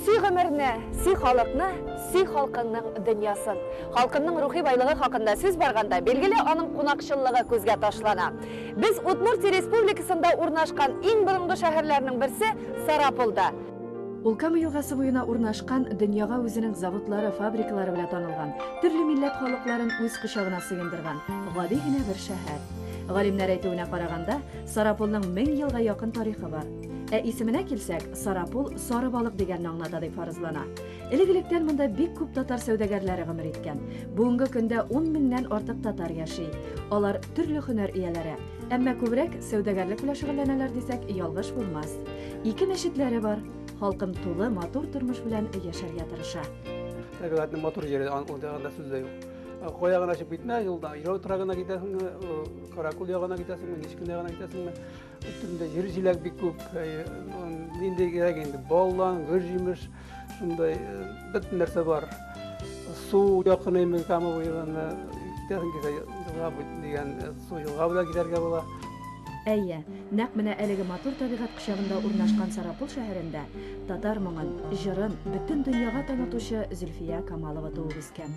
Сөй гомерне, сөй халыкны, сөй халкыңның дөньясын. Халкымның рухи байлыгы хакында сүз барганда, билгеле аның кунакчыллыгы күзгә ташлана. Без Удмуртия республикасында урнашкан иң борынгы шәһәрләрнең берсе Сарапулда. Ул Кама елгасы буена урнашкан, дөньяга үзенең заводлары, фабрикалары белән танылган, төрле милләт халыкларын үз кочагына сыендырган гади генә бер шәһәр. Галимнәр әйтүенә караганда, Сарапулның 1000 елга якын тарихы бар. Ә исеменә килсәк, Сарапул сары балык дигәнне аңлата дип фаразлана. Элек-электән монда бик күп татар сәүдәгәрләре гомер иткән. Бүгенге көндә 10 меңнән артык татар яши. Алар төрле һөнәр ияләре. Әмма күбрәк сәүдәгәрлек белән шөгыльләнәләр дисәк, ялгыш булмас. Ике мәчетләре бар, халкым тулы, матур тормыш белән яшәргә тырыша. Табигатьнең матур җире, ул ягында сүз дә юк. Кая гына чыгып китмә, юлда Ирау торагына китәсеңме, Каракул ягына китәсеңме, Нечкин ягына китәсеңме, өстендә җир җиләк бик күп, нинди кирәк инде, баллан, гөр җимеш, шундай бөтен нәрсә бар су якыныймын кама буйларына китәсең килсә елга дигән су елга буйлап китәргә була Әйе, нәкъ менә әлеге матур табигать кочагында урнашкан Сарапул шәһәрендә татар моңын, җырын бөтен дөньяга танытучы Зөлфия Камалова туып үскән.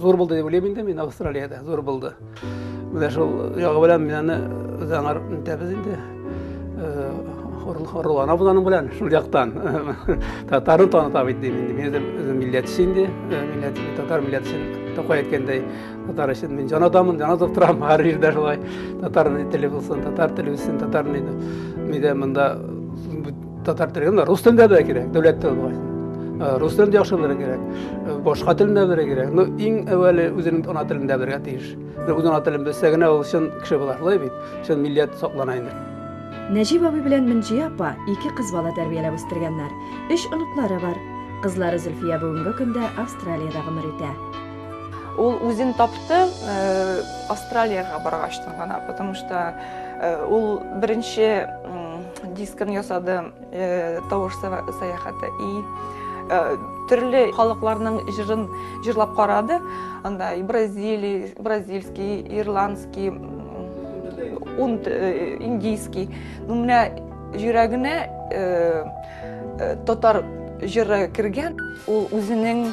зур булды дип уйлыйм инде мин австралиядә зур булды менә шул ягы белән мин аны үзаңар итәбез инде хурлана буланың белән шул яктан татарны таныта бит дим инде мин үзем үзем милләтче инде милләт татар милләт өчен тукай әйткәндәй татар өчен мин җан адаммын җан атып торам һәр җирдә шулай татар теле булсын татар теле үссен татар мин мин дә монда Татар телендә, рус телендә дә кирәк, дәүләт теле Рус телендә яхшы белергә кирәк, башка телендә белергә кирәк. Ну, иң әвәле үзенең ана телендә белергә тиеш. Үз ана телен белсә генә ул чын кеше була, шулай бит? Чын милләт саклана инде. Нәҗип абый белән Мөнҗия апа ике кыз бала тәрбияләп үстергәннәр. Өч оныклары бар. Кызлары Зөлфия бүгенге көндә Австралиядә гомер итә. Ул үзен тапты Австралиягә баргачтан гына, потому что ул беренче дискын ясады э, тавыш сәяхәте и э, төрле халыкларның җырын җырлап карады анда и бразилий бразильский ирландский ун э, индийский ну менә йөрәгенә татар җыры кергән ул үзенең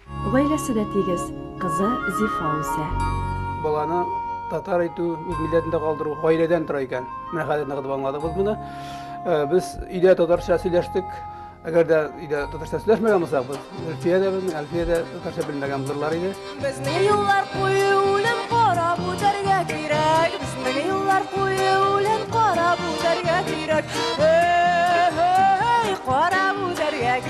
Гаиләсе дә тигез, кызы Зифа үсә. Баланы татар итү, үз милләтендә калдыру гаиләдән тора икән. Менә хәзер ныгытып аңладыгыз моны. Э, без өйдә татарча сөйләштек. Әгәр дә өйдә татарча сөйләшмәгән булсак, без Әлфия дә безнең, Әлфия дә татарча белмәгән булырлар иде. Безнең юллар куе үлем карап үтәргә кирәк. Безнең юллар куе үлем карап үтәргә кирәк. Эй, эй, карап үтәргә кирәк.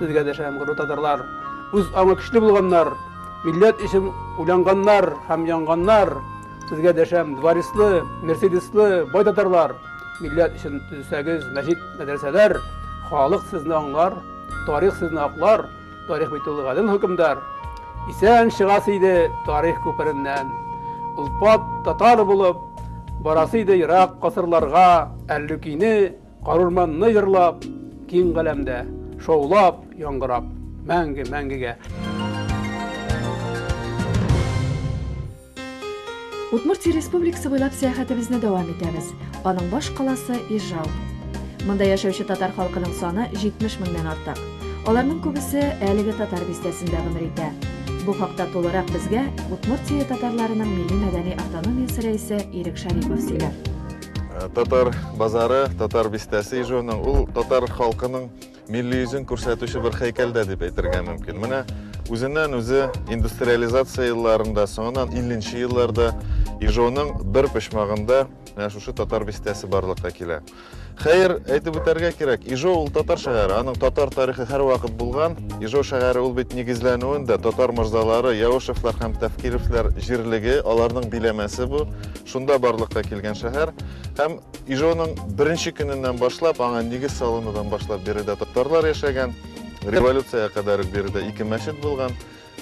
Сезгә дәшәм, горур татарлар, үз аңы көчле булганнар, милләт өчен уйланганнар һәм янганнар. Сезгә дәшәм, дворислы, мерседислы, бай татарлар, милләт өчен төзесәгез мәчет, мәдрәсәләр, халык сезне аңлар, тарих сезне аклар, тарих бит ул гадел хөкемдар. Исән чыгасы иде тарих күпереннән. Улпат татар булып, барасы иде ерак касырларга, әллүкине Карурманны йырлап, киң галәмдә, шаулап, яңгырап, мәңге, мәңгегә. Удмуртия республикасы буйлап сәяхәтебезне дәвам итәбез. Аның баш каласы Ижау. Монда яшәүче татар халкының саны 70 меңнән артык. Аларның күбесе әлеге татар бистәсендә гомер итә. Бу хакта тулырак безгә Удмуртия татарларының милли-мәдәни автономиясе рәисе Ирек Шарипов сөйләр. Э, татар базары, татар бистәсе ижуының, ул татар халкының милли йөзен күрсәтүче бер хәйкәл дә дип әйтергә мөмкин. Менә үзеннән үзе индустриализация елларында, соңыннан 50 елларда ижуының бер почмагында менә шушы татар бистәсе барлыкка килә. Хәер, әйтеп үтәргә кирәк, Ижо ул татар шәһәре, аның татар тарихы һәр вакыт булган. Ижо шәһәре ул бит нигезләнүен дә татар морзалары, Яушевлар һәм Тәфкировлар җирлеге, аларның биләмәсе бу. Шунда барлыкка килгән шәһәр һәм Ижоның беренче көненнән башлап, аңа нигез салынудан башлап биредә татарлар яшәгән, революциягә кадәр үк биредә ике мәчет булган.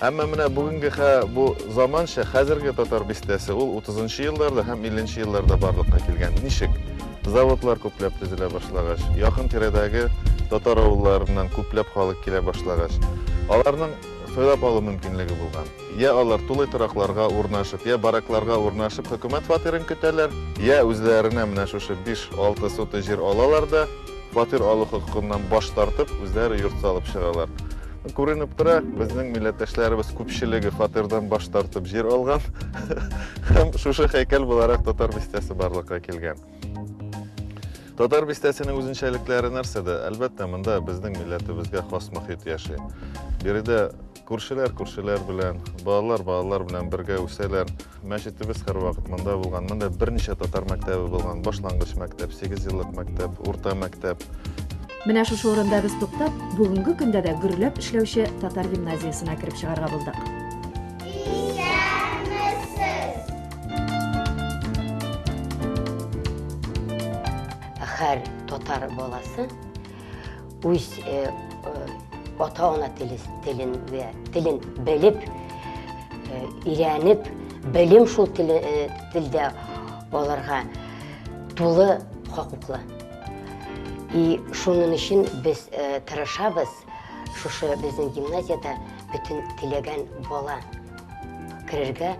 Әмма менә бүгенге хә, бу заманча, хәзерге татар бистәсе, ул 30 елларда һәм 50 елларда барлыкка килгән. Ничек? Заводлар күпләп төзелә башлагач, якын тирәдәге татар авылларыннан күпләп халык килә башлагач, аларның сайлап алу мөмкинлеге булган. Йә алар тулай торакларга урнашып, йә баракларга урнашып хөкүмәт фатирын көтәләр, йә үзләренә менә шушы биш-алты сотый җир алалар да, фатир алу хокукыннан баш тартып, үзләре йорт салып чыгалар. Күренеп тора, безнең милләттәшләребез күпчелеге фатирдан баш тартып җир алган һәм шушы һәйкәл буларак Татар бистәсе барлыкка килгән. Татар бистәсенең үзенчәлекләре нәрсәдә? Әлбәттә, монда безнең милләтебезгә хас мохит яши. Биредә Күршеләр күршеләр белән, балалар балалар белән бергә үсәләр. Мәчетебез һәрвакыт монда булган. Монда берничә татар мәктәбе булган. Башлангыч мәктәп, 8 еллык мәктәп, урта мәктәп. Менә шушы урында без туктап, бүгенге көндә дә гөрләп эшләүче татар гимназиясенә кереп чыгарга булдык. Һәр татар баласы үз ата-ана телен вә телен белеп, өйрәнеп, белем шул телдә аларга тулы хокуклы. И шуның өчен без тырышабыз, шушы безнең гимназиядә бөтен теләгән бала керергә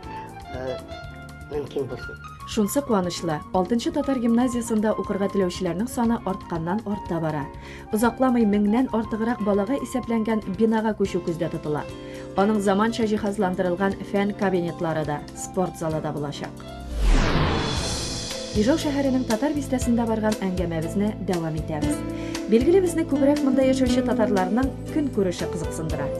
мөмкин булсын. Шунсы куанычлы, алтынчы татар гимназиясендә укырга теләүчеләрнең саны артканнан арта бара. Озакламый меңнән артыграк балага исәпләнгән бинага күчү күздә тотыла. Аның заманча җиһазландырылган фән кабинетлары да, спорт залы да булачак. Ижау шәһәренең татар бистәсендә барган әңгәмәбезне дәвам итәбез. Билгеле, безне күбрәк монда яшәүче татарларның көн күреше кызыксындыра.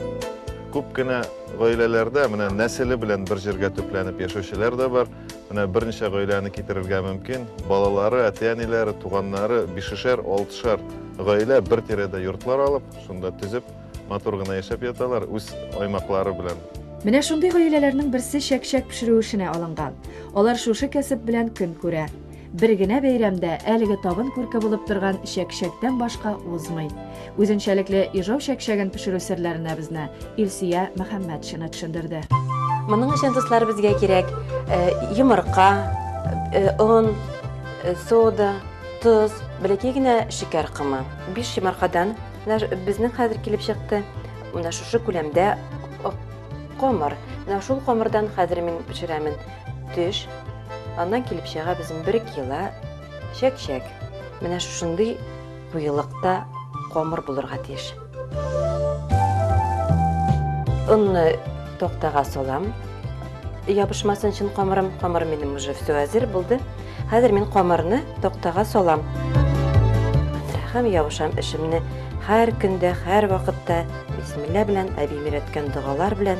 Күп кенә Гаиләләрдә менә нәселе белән бер җиргә төпләнеп яшәүчеләр дә бар. Менә берничә гаиләне китерергә мөмкин. Балалары, әти-әниләре, туганнары, бишешәр, алтышар гаилә бер тирәдә йортлар алып, шунда төзеп, матур гына яшәп яталар, үз аймаклары белән. Менә шундый гаиләләрнең берсе чәк-чәк пешерү эшенә алынган. Алар шушы кәсеп белән көн күрә. Бер генә бәйрәм дә әлеге табын күрке булып торган чәкчәктән башка узмый. Үзенчәлекле Ижау чәкчәген пешерү серләренә безне Илсөя Мөхәммәтшина төшендерде. Моның өчен дуслар безгә кирәк э, йомырка, э, он, э, сода, тоз, бәләкәй генә шикәр комы. Биш йомыркадан безнең хәзер килеп чыкты. Менә шушы күләмдә камыр. Менә шул камырдан хәзер мин пешерәмен. Төш. Аннан килеп чыга безнең бер кило чәк-чәк. Менә шушындый куелыкта камыр булырга тиеш. Онны токтага салам. Ябышмасын чын камырым. Камыр минем уже все әзер булды. Хәзер мин камырны токтага салам. Һәм ябышам эшемне һәр көндә, һәр вакытта Бисмилла белән, әбием өйрәткән догалар белән.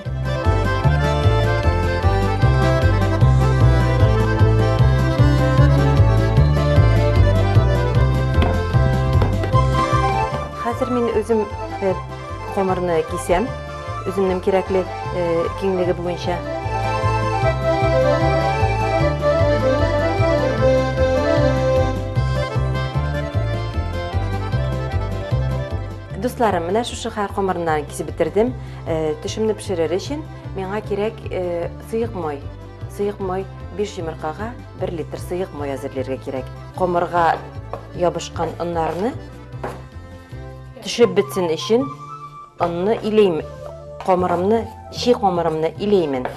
Хәзер мин үзем э, комырны кисәм, үземнең кирәкле э, киңлеге буенча. Дусларым, менә шушы хәл комырыннан кисеп бетердем. Э, Төшемне пешерер өчен миңа кирәк э, сыек май. Сыек май 5 йомыркага 1 литр сыек май әзерләргә кирәк. Комырга ябышкан оннарны төшеп бетсен өчен онны илейм. Комырымны, чи комырымны илеймен.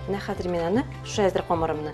Менә хәзер мин аны, шушы әзер комырымны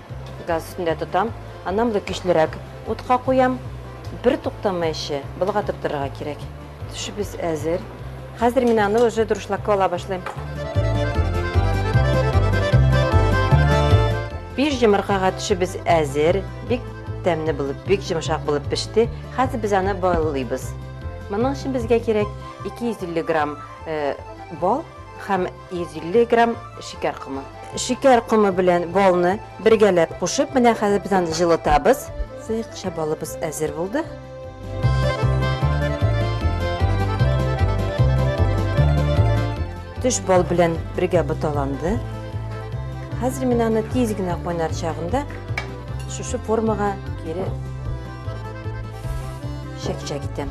Газ өстендә тотам, аннан болай көчлерәк утка куям. Бер туктамый эче, болгатып торырга кирәк. Төшебез әзер. Хәзер мин аны уже дуршлакка ала башлыйм. Биш йомыркага төшебез әзер. Бик тәмле булып, бик йомшак булып пеште. Хәзер без аны байлыйбыз. Моның өчен безгә кирәк 250 грамм бал һәм 150 грамм шикәр комы. Шикәр комы белән балны бергәләп кушып, менә хәзер без аны җылытабыз. Сыекча балыбыз әзер булды. Төш бал белән бергә буталанды. Хәзер мин аны тиз генә кайнар чагында шушы формага кире чәкчәк итәм.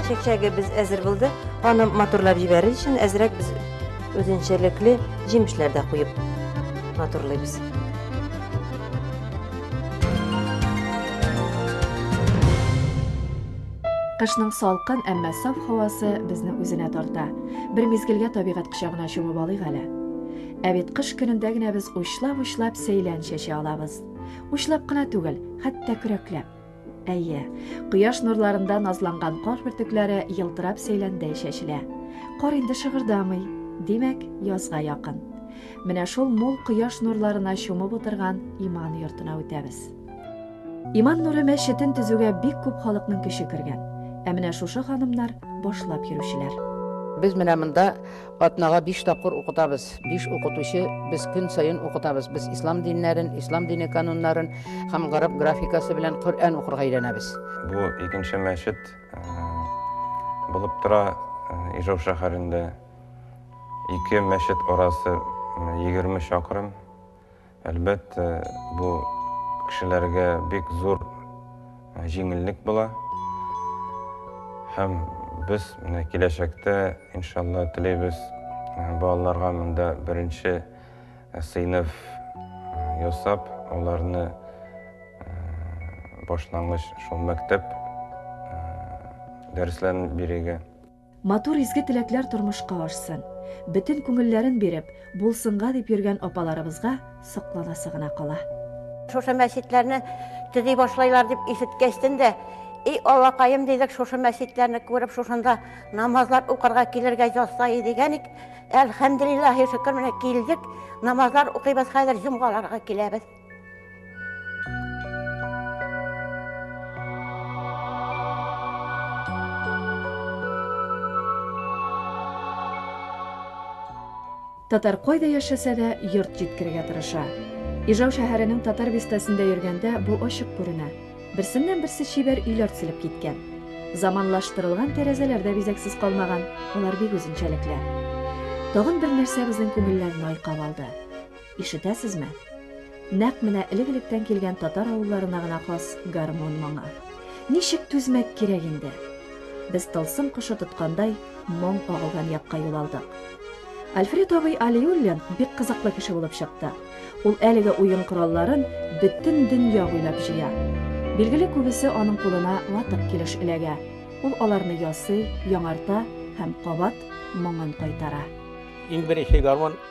Чәкчәгебез әзер булды. Аны матурлап җибәрер өчен әзрәк без үзенчәлекле җимешләр дә куеп матурлыйбыз. Кышның салкын, әмма саф һавасы безне үзенә тарта. Бер мизгелгә табигать кочагына чумып алыйк әле. Ә бит кыш көнендә генә без учлап-учлап сәйлән чәчә алабыз. Учлап кына түгел, хәтта көрәкләп. Әйе, кояш нурларында назланган кар бөртекләре елтырап сәйләндәй чәчелә. Кар инде шыгырдамый, димәк, язга якын. Менә шул мул кояш нурларына чумып утырган иман йортына үтәбез. Иман нуры мәчетен төзүгә бик күп халыкның көче кергән. Ә менә шушы ханымнар башлап йөрүчеләр. Без менә монда Атнага биш тапкыр укытабыз. Биш укытучы, без көн саен укытабыз. Без ислам диннәрен, ислам дине кануннарын һәм гарәп графикасы белән Коръән укырга өйрәнәбез. Бу икенче мәчет булып тора Ижау шәһәрендә. Ике мәчет арасы егерме чакрым. Әлбәттә, бу кешеләргә бик зур җиңеллек була. Һәм без менә киләчәктә, иншалла, телибез балаларга монда беренче сыйныф ясап, аларны башлангыч шул мәктәп дәресләрен бирергә. Матур изге теләкләр тормышка ашсын. Бөтен күңелләрен биреп, булсынга дип йөргән апаларыбызга сокланасы гына кала. Шушы мәчетләрне төзи башлайлар дип ишеткәчтен дә, И Аллакаем, дидек, шушы мәчетләрне күреп, шушында намазлар укырга килергә язса иде икән ик. Әлхәмделиллаһи шөкер, менә килдек, намазлар укыйбыз, хәзер җомгаларга киләбез. Татар кайда яшәсә дә, йорт җиткерергә тырыша. Ижау шәһәренең татар бистәсендә йөргәндә бу ачык күренә. Берсеннән-берсе чибәр өйләр төзелеп киткән. Заманлаштырылган тәрәзәләр дә бизәксез калмаган, алар бик үзенчәлекле. Тагын бер нәрсә безнең күңелләрне айкап алды. Ишетәсезме? Нәкъ менә элек-электән килгән татар авылларына гына хас гармун моңы. Ничек түзмәк кирәк инде? Без тылсым кошы тоткандай моң агылган якка юл алдык. Альфред абый Алиуллин бик кызыклы кеше булып чыкты. Ул әлеге уен коралларын бөтен дөнья буйлап җыя. Билгеле, күбесе аның кулына ватык килеш эләгә. Ул аларны ясый, яңарта һәм кабат моңын кайтара. Иң беренче гармун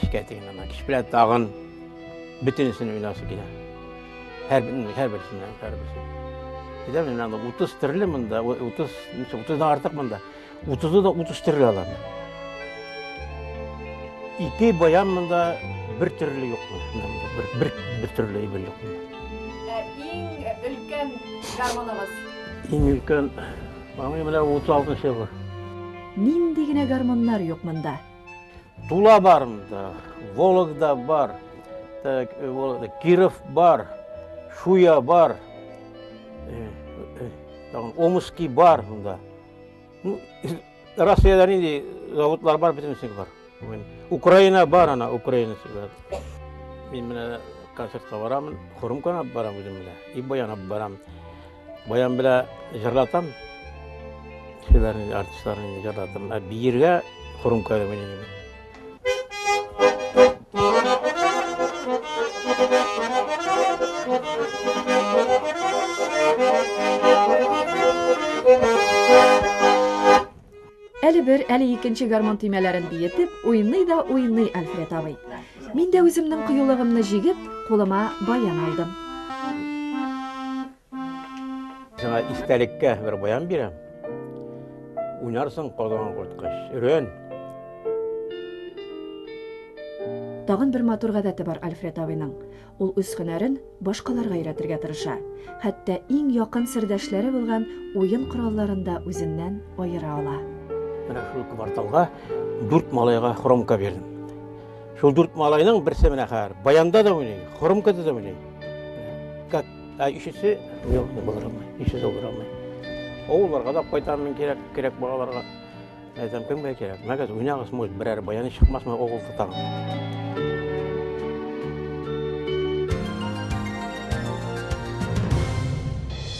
Кичкә тиген ана. Кич белән тагын бөтенесен уйласы килә. Һәр һәр берсеннән, һәр берсеннән. Әйтәм мин аны 30 төрле монда, 30, 30-дан артык монда. 30-ы да 30 төрле алам. Ике баян монда бер төрле юк. Бер бер бер төрле ибел юк. Иң өлкән гармоныгыз. Иң өлкән, аңы менә 36 нчы бу. Нинди генә гармоннар юк монда. Тула бар монда, Вологда бар, так, э, Киров бар, Шуя бар, э, э, Омский бар монда. Ну, Россияда нинди заводлар бар, бөтенесе бар. Украина бар ана, Украина бар. Мин менә концертка барамын, Хурымканы барам үзем менә, и баян барам. Баян белә җырлатам. Кешеләрне, артистларны җырлатам. Ә биергә хурым кәрәмени генә. Әле бер, әле икенче гармон төймәләрен биетеп, уйный да уйный Альфред абый. Мин дә үземнең кыюлыгымны җигеп, кулыма баян алдым. Сиңа истәлеккә бер баян бирәм. Уйнарсың казан коткач. Өрен. Тагын бер матур гадәте бар Альфред абыйның. Ул үз һөнәрен башкаларга өйрәтергә тырыша, хәтта иң якын сердәшләре булган уен коралларын да үзеннән аера ала. Менә шул кварталга дүрт малайга хромка бирдем. Шул дүрт малайның берсе менә хәзер баянда да уйный, хромкада да уйный. Как а өчесе юк, булыр алмый, өчесе булыр алмый. Авылларга да кайтам мин кирәк, кирәк балаларга. Әйтәм, кемгә кирәк? Мәгәз, уйнагыз мульт, берәр баяны чыкмасмы огыл тотам.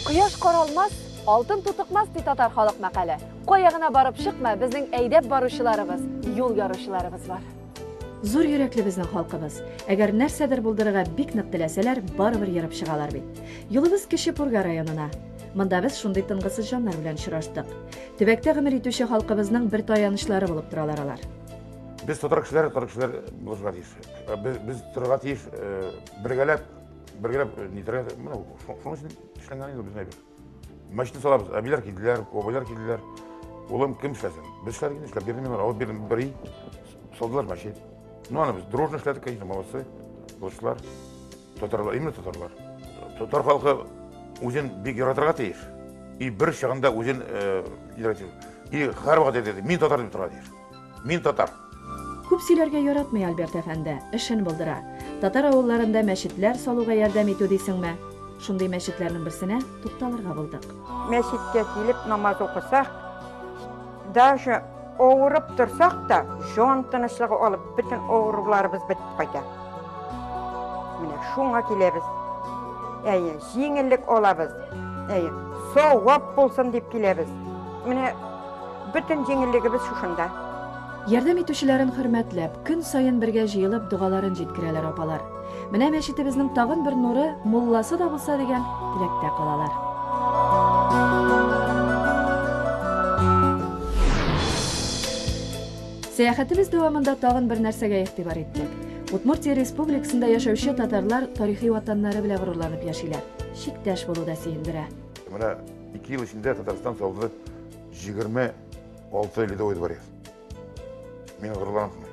Кояш каралмас, алтын тутыкмас, ди татар халык мәкале. Кая гына барып чыкма, безнең әйдәп баручыларыбыз, юл яручыларыбыз бар. Зур йөрәкле безнең халкыбыз. Әгәр нәрсәдер булдырырга бик нык теләсәләр, барыбер ерып чыгалар бит. Юлыбыз Кече Пурга районына. Монда без шундый тынгысыз җаннар белән очраштык. Төбәктә гомер итүче халкыбызның бер таянычлары булып торалар алар. Без татар кешеләре, татар кешеләр булырга тиеш. Э, без, без торырга тиеш, э, бергәләп, бергәләп э, нитәргә, менә шуның өчен эшләнгән инде безнең әйбер. Мәчетне салабыз, әбиләр килделәр, бабайлар килделәр. Улым кем эшләсен? Без эшләргә эшләп бирдем мин алар, бирдем бер ел. Салдылар мәчет. Ну аны без дружно эшләдек, конечно, молодцы, дошла. Татарлар, именно татарлар. Татар халкы үзен бик яратырга тиеш. И бер чагында үзен яратыр. И һәр вакыт әйтә, мин татар дип тора тиеш. Мин татар. Күп сөйләргә яратмый Альберт әфәнде, эшен булдыра. Татар авылларында мәчетләр салуга ярдәм итү дисеңме? Шундый мәчетләрнең берсенә тукталырга булдык. Мәчеткә килеп намаз укысак, Даже авырып торсак та, җан тынычлыгы алып, бөтен авыруларыбыз бетеп кайта. Менә шуңа киләбез. Әйе, җиңеллек алабыз. Әйе, савап булсын дип киләбез. Менә бөтен җиңеллегебез шушында. Ярдәм итүчеләрен хөрмәтләп, көн саен бергә җыелып, догаларын җиткерәләр апалар. Менә мәчетебезнең тагын бер нуры мулласы да булса дигән теләктә калалар. Сәяхәтебез дәвамында тагын бер нәрсәгә игътибар иттек. Удмуртия республикасында яшәүче татарлар тарихи ватаннары белән горурланып яшиләр. Чиктәш булу да сөендерә. Менә ике ел эчендә Татарстан салды 26 ледовый дворец. Мин горурланып мин.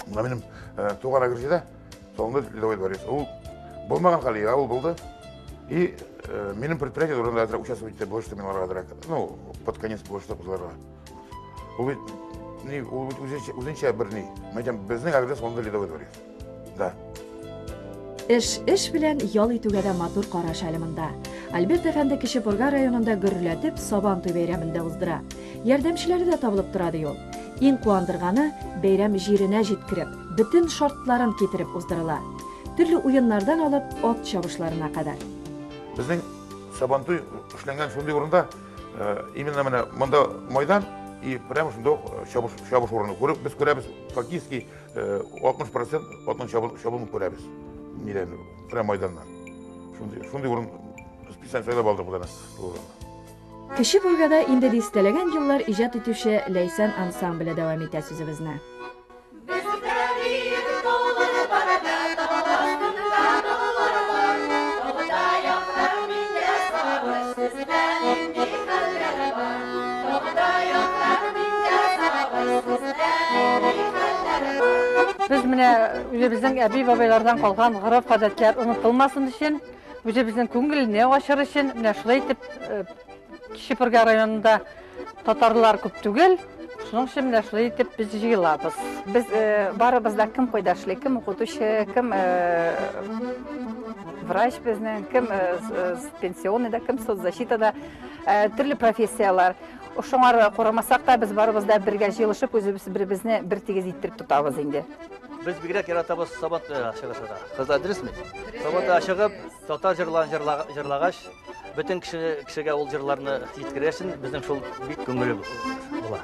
Мына минем э, туган агрессия да, соңында Ледовый дворец. Ул болмаған хәле, я, ул болды. И э, минем предприятие турында әзрәк участвовать итә, больше мин аларга әзрәк. Ну, под конец больше кызларга. Ул бит, ни, ул бит үзенчә, үзенчә бер ни. Мәйтәм, безнең агрессия соңында Ледовый дворец. Да. Эш, эш белән ял итүгә дә матур караш әле монда. Альберт әфәнде Кече Пурга районында гөрләтеп Сабан туй бәйрәмен дә уздыра. Ярдәмчеләре дә табылып тора, ди ул. Иң куандырганы, бәйрәм җиренә җиткереп, бөтен шартларын китереп уздырыла. Төрле уеннардан алып, ат чабышларына кадәр. Безнең Сабан туй эшләнгән шундый урында, именно менә монда майдан и прямо шунда ук чабыш чабыш урыны. Күреп, без күрәбез, хоккейский 60 процент атын чабылып күрәбез. Нидән, прям майданнан. Шундый, шундый урын специаль сайлап алдык бу Кече буйгада инде дистәләгән еллар иҗат итүче Ләйсән ансамбле дәвам итә сүзебезне. Без менә үзебезнең әби-бабайлардан калган гореф-гадәтләр онытылмасын өчен, үзебезнең күңелне ачыр өчен, менә шулай итеп э, Кече Пырга районында татарлар күп түгел, шуның өчен менә шулай итеп без җыелабыз. Без э, барыбыз да кем кайда эшли, кем укытучы, кем э, врач безнең, кем пенсионныйда, кем соцзащитада. Төрле профессияләр. Шуңар курамасак та, без барыбыз да бергә җыелышып, үзебез беребезне бер тигез иттереп тотабыз инде. Без бигрәк яратабыз сабат чыгышына. Кыз адресме? Сабата чыгып, татар җырларын җырлагач, бөтен кеше кешегә ул җырларны җиткерәсен, безнең шул бик күңеле була.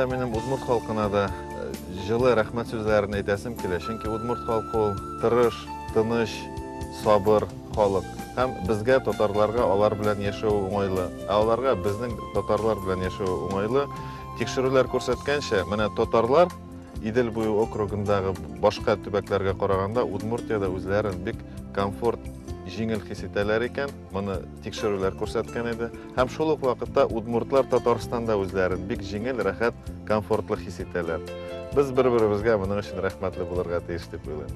да минем удмурт халкына да э, жылы рәхмәт сүзләрен әйтәсем килә. Чөнки удмурт халкы ул тырыш, тыныч, сабыр халык. Һәм безгә татарларга алар белән яшәү уңайлы. Ә аларга безнең татарлар белән яшәү уңайлы. Тикшерүләр күрсәткәнчә, менә татарлар Идел буе округындагы башка төбәкләргә караганда Удмуртиядә үзләрен бик комфорт җиңел хис итәләр икән, моны тикшерүләр күрсәткән иде. Һәм шул ук вакытта удмуртлар Татарстанда үзләрен бик җиңел, рәхәт, комфортлы хис итәләр. Без бер-беребезгә моның өчен рәхмәтле булырга тиеш дип уйлыйм.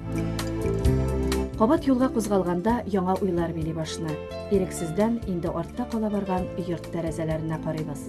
Кабат юлга кузгалганда яңа уйлар били башны. Ирексездән инде артта кала барган йорт тәрәзәләренә карыйбыз.